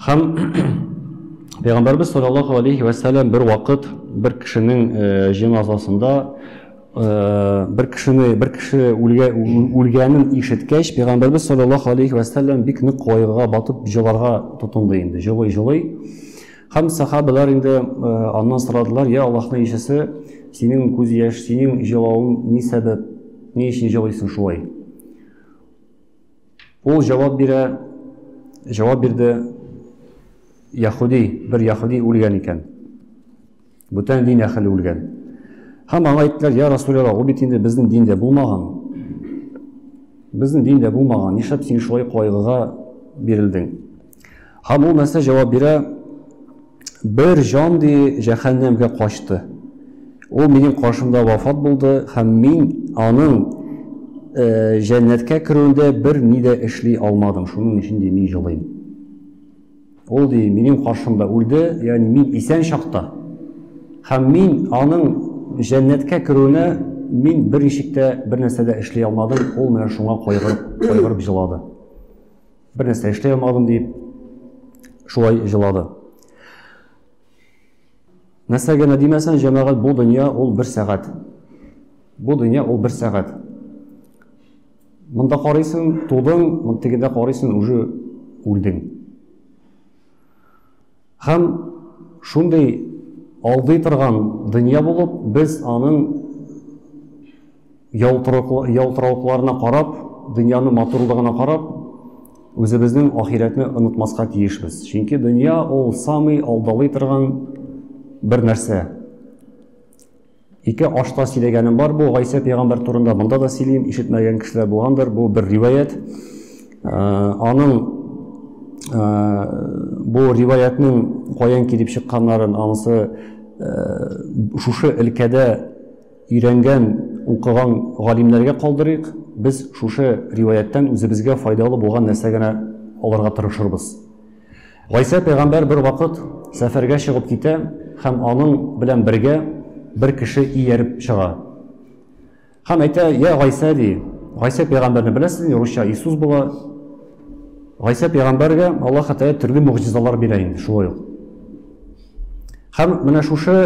Һәм Пәйгамбәрбез саллаллаху алейхи ва сәлләм бер вакыт бер кешенең э, җеназасында э, бер кешене бер кеше үлгә, үлгәнен ишеткәч, Пәйгамбәрбез саллаллаху алейхи ва сәлләм бик нык кайгыга батып җыларга тотынды инде, җылый җылый. Һәм сахабалар инде э, аннан сорадылар, я Аллаһның ишесе, синең күз яшь, синең җылавың ни сәбәп, ни өчен җылыйсың шулай? Ул җавап бирә, җавап бирде, яхуди, бер яхуди үлгән икән. Бүтән дин әхеле үлгән. Һәм аңа әйттеләр, я Расулялла, ул бит инде безнең диндә булмаган. Безнең диндә булмаган, нишләп син шулай кайгыга бирелдең? Һәм ул нәрсә җавап бирә? Бер җан ди җәһәннәмгә качты. Ул минем каршымда вафат булды һәм мин аның э, җәннәткә керүендә бер ни дә эшли алмадым. Шуның өчен ди мин җылыйм. Ул ди минем каршымда үлде, ягъни мин исән чакта. Һәм мин аның җәннәткә керүенә мин бер ишектә бер нәрсә дә эшли алмадым, ул менә шуңа кайгырып, кайгырып җылады. Бер нәрсә эшли алмадым дип, шулай җылады. Нәрсә генә димәсән, җәмәгать бу дөнья ул бер сәгать. Бу дөнья ул бер сәгать. Монда карыйсың, тудың, монда тегендә карыйсың, уже үлдең. Һәм шундый алдый торган дөнья булып, без аның ялтыравыкларына карап, дөньяның матурлыгына карап, үзебезнең ахирәтне онытмаска тиешбез. Чөнки дөнья ул самый алдалый торган бер нәрсә. Ике ашта сөйләгәнем бар бу Гайсә пәйгамбәр турында, монда да сөйлим, ишетмәгән кешеләр булгандыр, бу бер риваят. Аның бу риваятның каян килеп чыкканнарын анысы шушы өлкәдә өйрәнгән, укыган галимнәргә калдырыйк. Без шушы риваяттан үзебезгә файдалы булган нәрсә генә алырга тырышырбыз. Гайсә пәйгамбәр бер вакыт сәфәргә чыгып китә һәм аның белән бергә бер кеше ияреп чыга. Һәм әйтә, я Гайсә ди, Гайсә пәйгамбәрне беләсезме, русча Иисус була. Гайсә пәйгамбәргә Аллаһ Тәгалә төрле мөгъҗизалар бирә инде шулай ук. Һәм менә шушы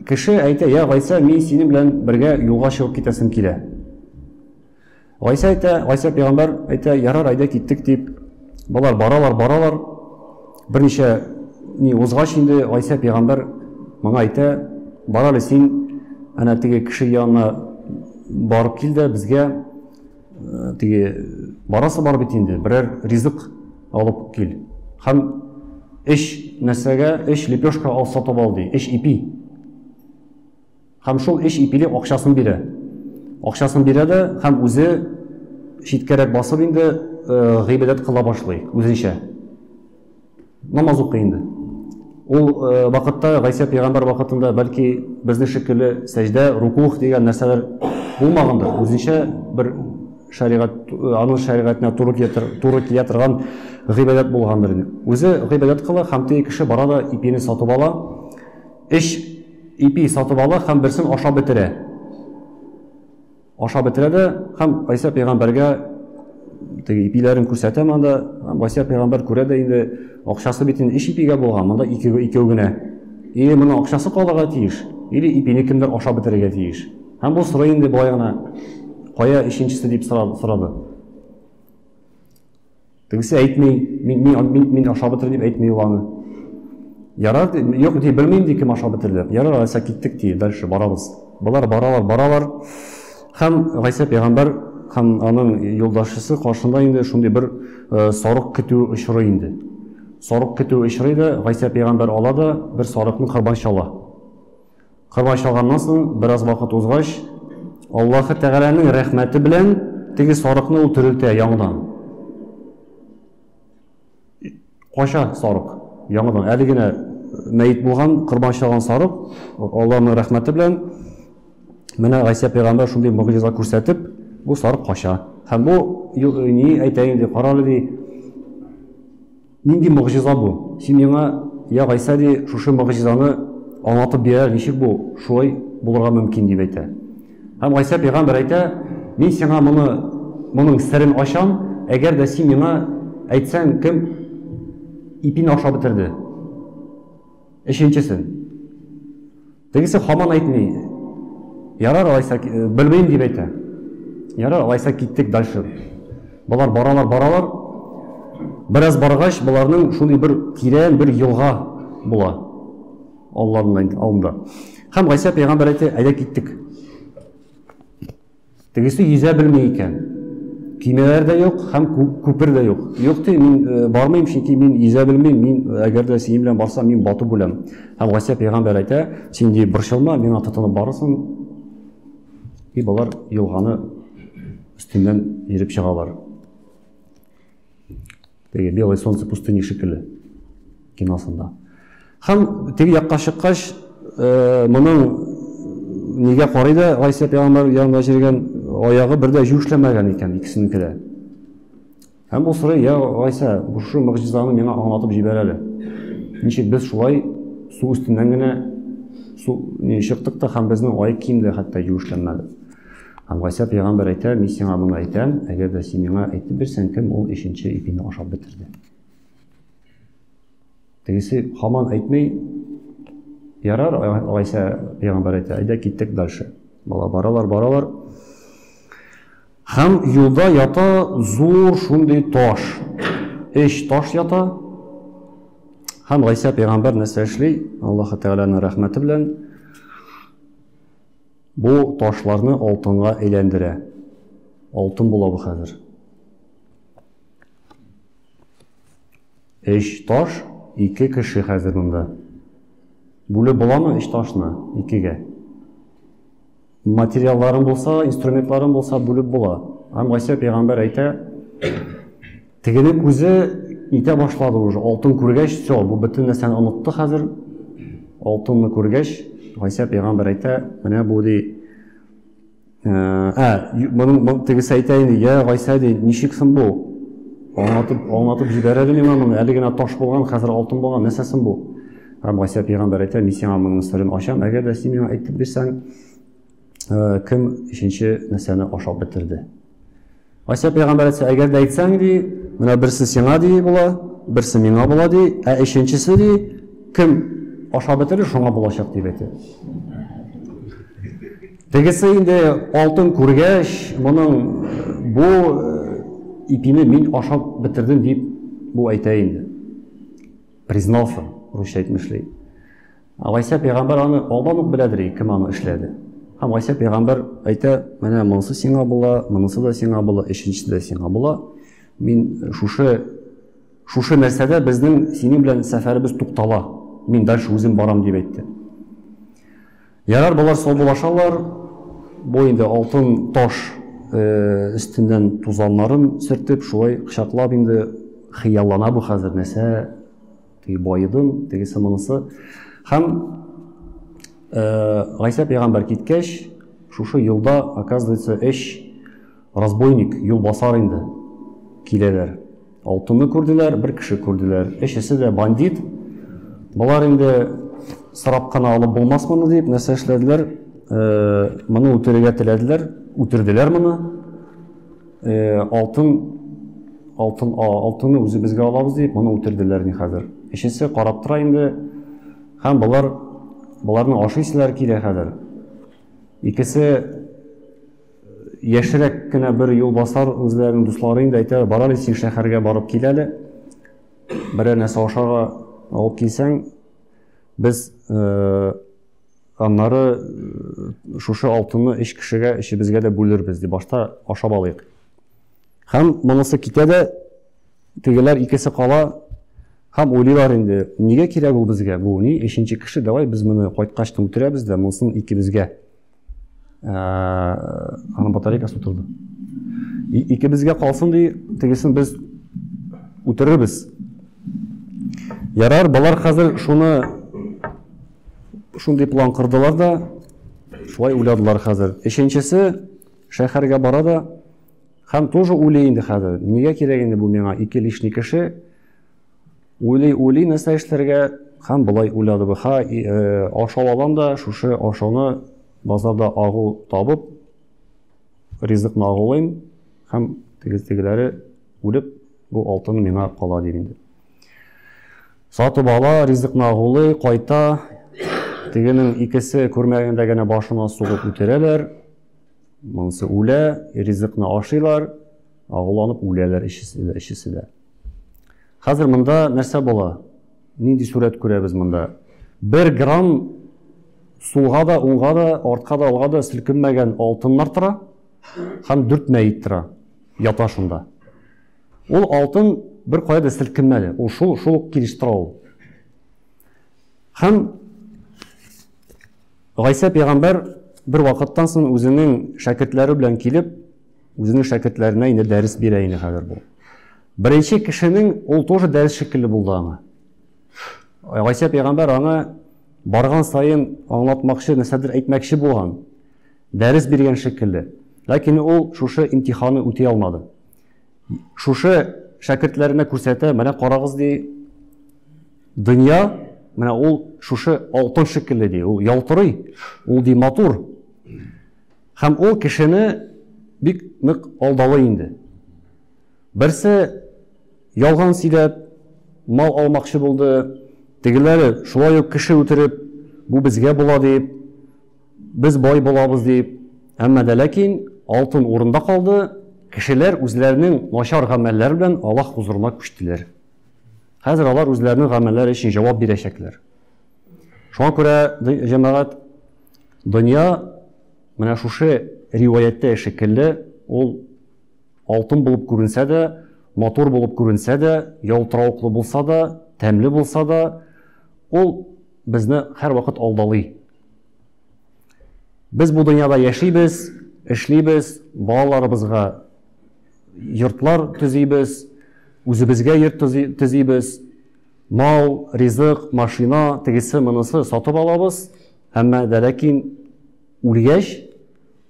кеше әйтә, я Гайсә, мин синең белән бергә юлга чыгып китәсем килә. Гайсә әйтә, Гайсә пәйгамбәр әйтә, ярар, әйдә киттек дип. Болар баралар, баралар. Берничә ни узгач инде Гайсә пәйгамбәр моңа әйтә, бар әле син әнә теге кеше янына барып кил дә безгә э, теге барасы бар бит инде, берәр ризык алып кил. Һәм эш нәрсәгә, эш лепешка алса табал ди, эш ипи. Һәм шул өч ипилек акчасын бирә. Акчасын бирә дә һәм үзе читкәрәк басып инде гыйбадәт кыла башлый үзенчә. Намаз укый инде. Ул вакытта Гайсә пәйгамбәр вакытында бәлки безнең шикелле сәҗдә, рукух дигән нәрсәләр булмагандыр. Үзенчә бер шәригать, аның шәригатенә туры килә, туры килә торган гыйбадәт булгандыр. Үзе гыйбадәт кыла һәм теге кеше бара да ипине сатып ала. Өч ипи сатып ала һәм берсен ашап бетерә. Ашап бетерә дә һәм Гайсә пәйгамбәргә теге ипиләрен күрсәтә монда. Гайсә пәйгамбәр күрә дә инде акчасы бит инде өч ипигә булган, монда ике икәү генә. Или моның акчасы калырга тиеш, или ипине кемдер ашап бетерергә тиеш. Һәм бу сорый инде болай гына, кая өченчесе дип сорады. Тегесе әйтми, мин, мин, мин, мин ашап бетердем дип әйтми ул аны. Ярар, юк, ди, белмим ди, кем ашап бетерде. Ярар, Гайса киттек ди, дальше барабыз. Болар баралар, баралар. Хәм Гайса пәйгамбәр һәм аның юлдашысы каршында инде шундый бер э, сарык көтү очрый инде. Сарык көтү очрый да Гайса пәйгамбәр ала да бер сарыкны корбан чала. Корбан чалганнан соң бераз вакыт узгач, Аллаһы Тәгаләнең рәхмәте белән теге сарыкны ул терелтә яңадан. Кача сарык яңадан әле генә мәйет булган, корбан чалган сарык Аллаһның рәхмәте белән менә Гайсә пәйгамбәр шундый мөгъҗиза күрсәтеп, бу сарык кача. Һәм бу ни әйтә инде, карале ди, Нинди могҗиза бу? Син миңа, я Гайсә, ди, шушы могҗизаны аңлатып бир әле, ничек бу шулай булырга мөмкин, дип әйтә. Һәм Гайсә пәйгамбәр әйтә, Мин сиңа моны, моның серен ачам, әгәр дә син миңа әйтсәң, кем ипине ашап бетерде? Өченчесен. Тегесе хаман әйтми. Ярар алайса, э, белмим дип әйтә. Ярар алайса киттек дальше. Болар баралар, баралар. Бераз баргач, боларның шундый бер тирән бер елга була. Алланың алдында. Һәм Гайса пәйгамбәр әйтә, әйдә киттек. Тегесе йөзә белми икән. Көймәләр дә юк һәм күпер дә юк. Юк ди, мин э, бармыйм, чөнки мин йөзә белмим, мин э, әгәр дә синең белән барсам, мин батып үләм. Һәм Гасия пәйгамбәр әйтә, син ди борчылма, миңа тотынып барырсың. И болар елганы өстеннән йөреп чыгалар. теге белое солнце пустыни шикелле киносында һәм теге якка чыккач э, моның нигә карый да гайсә пәйгамбәр янында җиргән аягы бер дә юешләмәгән икән икесенеке дә һәм ул сорый я гайсә шушы могҗизаны миңа аңлатып җибәр әле ничек без шулай су өстеннән генә су чыктык та һәм безнең аяк кием дә хәтта юешләнмәде Һәм Гайсә пәйгамбәр әйтә, мин сиңа моны әйтәм, әгәр дә син миңа әйтеп бирсәң, кем ул өченче ипине ашап бетерде? Тегесе хаман әйтми, ярар, Гайсә пәйгамбәр әйтә, әйдә киттек дальше. Бала баралар, баралар. Һәм юлда ята зур шундый таш. Эш таш ята. Һәм Гайсә пәйгамбәр нәрсә эшли? Аллаһы Тәгаләнең рәхмәте белән Бу ташларны алтынга әйләндерә. Алтын була бу хәзер. Өч таш, ике кеше хәзер монда. Бүлеп буламы өч ташны икегә? Материалларын булса, инструментларын булса, бүлеп була. Һәм Гайсә пәйгамбәр әйтә, Тегене күзе итә башлады уже, алтын күргәч, все, бу бөтен нәрсәне онытты хәзер. Алтынны күргәч, Гайсә пәйгамбәр әйтә, менә бу ди. Ә, моның тегесе әйтә инде, я Гайсә ди, ничек соң бу? Аңлатып, аңлатып җибәр әле миңа моны. Әле генә таш булган, хәзер алтын булган, нәрсә соң бу? Һәм Гайсә пәйгамбәр әйтә, мин сиңа моның сырын ачам, әгәр дә син миңа әйтеп бирсәң, кем өченче нәрсәне ашап бетерде? Айса пәйгамбәр әйтсә, әгәр дә әйтсәң, ди, менә берсе сиңа ди була, берсе миңа була ди, ә өченчесе ди, кем ашап бетерер, шуңа булачак дип әйтә. Тегесе инде алтын күргәч, моның бу э, ипине мин ашап бетердем дип бу әйтә инде. Признался, русча әйтмешли. Гайсә пәйгамбәр аны алдан ук беләдер, кем аны эшләде. Һәм Гайсә пәйгамбәр әйтә, менә монысы сиңа була, монысы да сиңа була, өченчесе дә сиңа була. Мин шушы шушы нәрсәдә безнең синең белән сәфәребез туктала. Мин дальше үзем барам дип әйтте. Ярар, болар саубулашалар. Бу инде алтын таш э, өстеннән тузаннарын сөртеп, шулай кочаклап инде хыяллана бу хәзер нәрсә теге байыдым, тегесе монысы. Һәм э, Гайсә пәйгамбәр киткәч, шушы юлда, оказывается, эш разбойник, юл басар инде киләләр. Алтынны күрделәр, бер кеше күрделәр. Эшесе дә бандит. Болар инде сорап кына алып булмас моны дип, нәрсә эшләделәр? Э, моны үтерергә теләделәр, үтерделәр моны. алтын алтын алтынны үзебезгә алабыз дип моны үтерделәр ни хәзер өчесе карап тора инде һәм болар боларны ашыйсылар килә хәзер икесе яшерәк кенә бер юл басар үзләренең дуслары инде әйтә барар син шәһәргә барып кил әле берәр нәрсә ашарга алып килсәң без Аннары шушы алтынны өч кешегә, өчебезгә дә бүлербез, ди башта ашап алыйк. Һәм монысы китә дә, тегеләр икесе кала, һәм уйлыйлар инде, нигә кирәк ул безгә, бу ни, өченче кеше, давай без моны кайткач түңтерәбез дә, монысын икебезгә. Аны батарейкасы утырды. Икебезгә калсын ди, тегесен без үтерербез. Ярар, балар хәзер шуны Шундый план кырдылар да, шулай уйладылар хәзер. Өченчесе шәһәргә бара да, һәм тоже уйлый инде хәзер. Нигә кирәк инде бу миңа ике лишний кеше? Уйлый, уйлый, нәрсә эшләргә? Һәм болай уйлады бу. Ха, э, ашау алам да, шушы ашауны базарда агу табып, ризыкны агулыйм, һәм тегеләре үлеп, бу алтын миңа кала дип инде. Сатып ала, ризыкны агулый, кайта. Тегенең икесе күрмәгәндә генә башына сугып үтерәләр. Монысы үлә, ризыкны ашыйлар, агуланып үләләр ишесе дә. Хәзер монда нәрсә була? Нинди сурәт күрәбез монда? Бер грамм сулга да, уңга да, артка да, алга да селкенмәгән алтыннар тора һәм дүрт мәйет тора, ята шунда. Ул алтын бер кая да селкенмәде. Ул шул шул ук килеш тора ул. Һәм Гайсә пәйгамбәр бер вакыттан соң үзенең шәкертләре белән килеп, үзенең шәкертләренә инде дәрес бирә инде хәзер бу. Беренче кешенең ул тоже дәрес шикелле булды аңа. Гайсә пәйгамбәр аңа барган саен аңлатмакчы, нәрсәдер әйтмәкче булган, дәрес биргән шикелле. Ләкин ул шушы имтиханы үти алмады. Шушы шәкертләренә күрсәтә, менә карагыз ди, дөнья, менә ул шушы алтын шикелле ди, ул ялтырый, ул ди матур. Һәм ул кешене бик нык алдалы инде. Берсе ялган сөйләп, мал алмакчы булды, тегеләре шулай ук кеше үтереп, бу безгә була дип, Без бай булабыз дип, әмма дә ләкин алтын урында калды, кешеләр үзләренең начар гамәлләре белән Аллаһ хузурына күчтеләр. Хәзер алар үзләренең гамәлләре өчен җавап бирәчәкләр. Шуңа күрә җәмәгать дөнья менә шушы риваяттә шикелле ул алтын булып күренсә дә, матур булып күренсә дә, ялтыравыклы булса да, тәмле булса да, ул безне һәрвакыт алдалый. Без бу дөньяда яшибез, эшлибез, балаларыбызга йортлар төзибез, үзебезгә йорт төзибез, мал, ризык, машина, тегесе, монысы сатып алабыз, әмма дә ләкин үлгәч,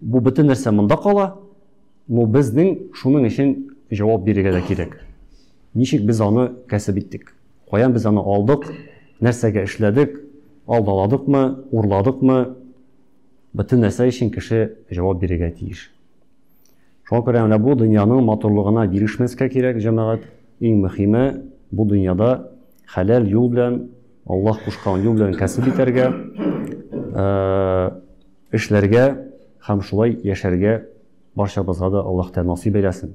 бу бөтен нәрсә монда кала, но безнең шуның өчен җавап бирергә дә кирәк. Ничек без аны кәсеп иттек? Каян без аны алдык, нәрсәгә эшләдек, алдаладыкмы, урладыкмы, бөтен нәрсә өчен кеше җавап бирергә тиеш. Шуңа күрә менә бу дөньяның матурлыгына бирешмәскә кирәк, җәмәгать. Иң мөһиме, бу дөньяда хәләл юл белән, Аллаһ кушкан юл белән кәсеп итәргә, э, эшләргә һәм шулай яшәргә барчабызга да Аллаһ Тәгалә насыйп әйләсен.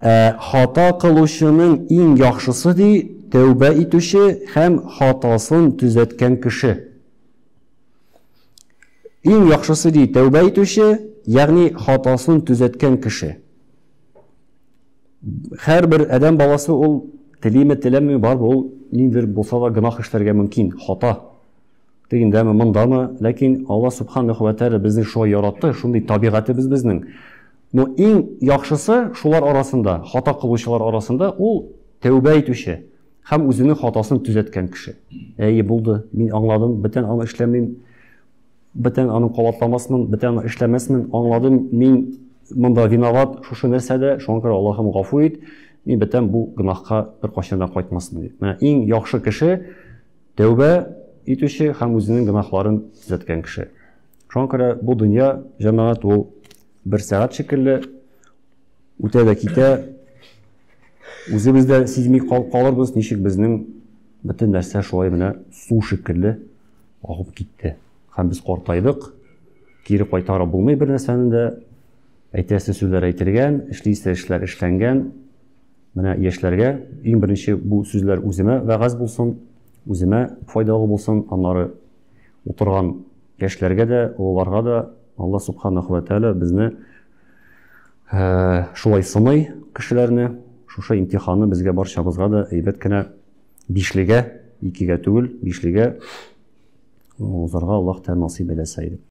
Ә хата кылучының иң яхшысы, ди, тәүбә итүче һәм хатасын төзәткән кеше. Иң яхшысы, ди, тәүбә итүче, ягъни хатасын төзәткән кеше. Һәрбер адәм баласы ул телиме, теләмиме, бар ул ниндидер булса да гөнаһ эшләргә мөмкин, хата. Тегендәме, мондамы, ләкин Алла субханаху ва тәгалә безне шулай яратты, шундый табигатебез безнең. Но иң яхшысы шулар арасында, хата кылучылар арасында ул тәүбә итүче һәм үзенең хатасын төзәткән кеше. Әйе, булды, мин аңладым, бөтен аны эшләмим, бөтен аны кабатламасмын, бөтен аны эшләмәсмен, аңладым, мин монда виноват, шушы нәрсәдә, шуңа күрә Аллаһым гафу ит, мин бөтен бу гөнаһка беркайчан да кайтмасмын дип. Менә иң яхшы кеше тәүбә итүче һәм үзенең гөнаһларын төзәткән кеше. Шуңа күрә бу дөнья җәмәгать ул Бер сәгать шикелле үтә дә китә. Үзебез дә сизми калырбыз, ничек безнең бөтен нәрсә шулай менә су шикелле агып китте. Һәм без картайдык, кире кайтара булмый бер нәрсәне дә. Әйтәсе сүзләр әйтелгән, эшлисе эшләр эшләнгән. Менә яшьләргә иң беренче бу сүзләр үземә вәгазь булсын, үземә файдалы булсын, аннары утырган яшьләргә дә, олыларга да Алла Субханаху ва Тәгалә безне шулай сыный кешеләрне, шушы имтиханны безгә барчабызга да әйбәт кенә бишлегә, икегә түгел, бишлегә узарга Аллаһ Тәгалә насыйп әйләсә иде.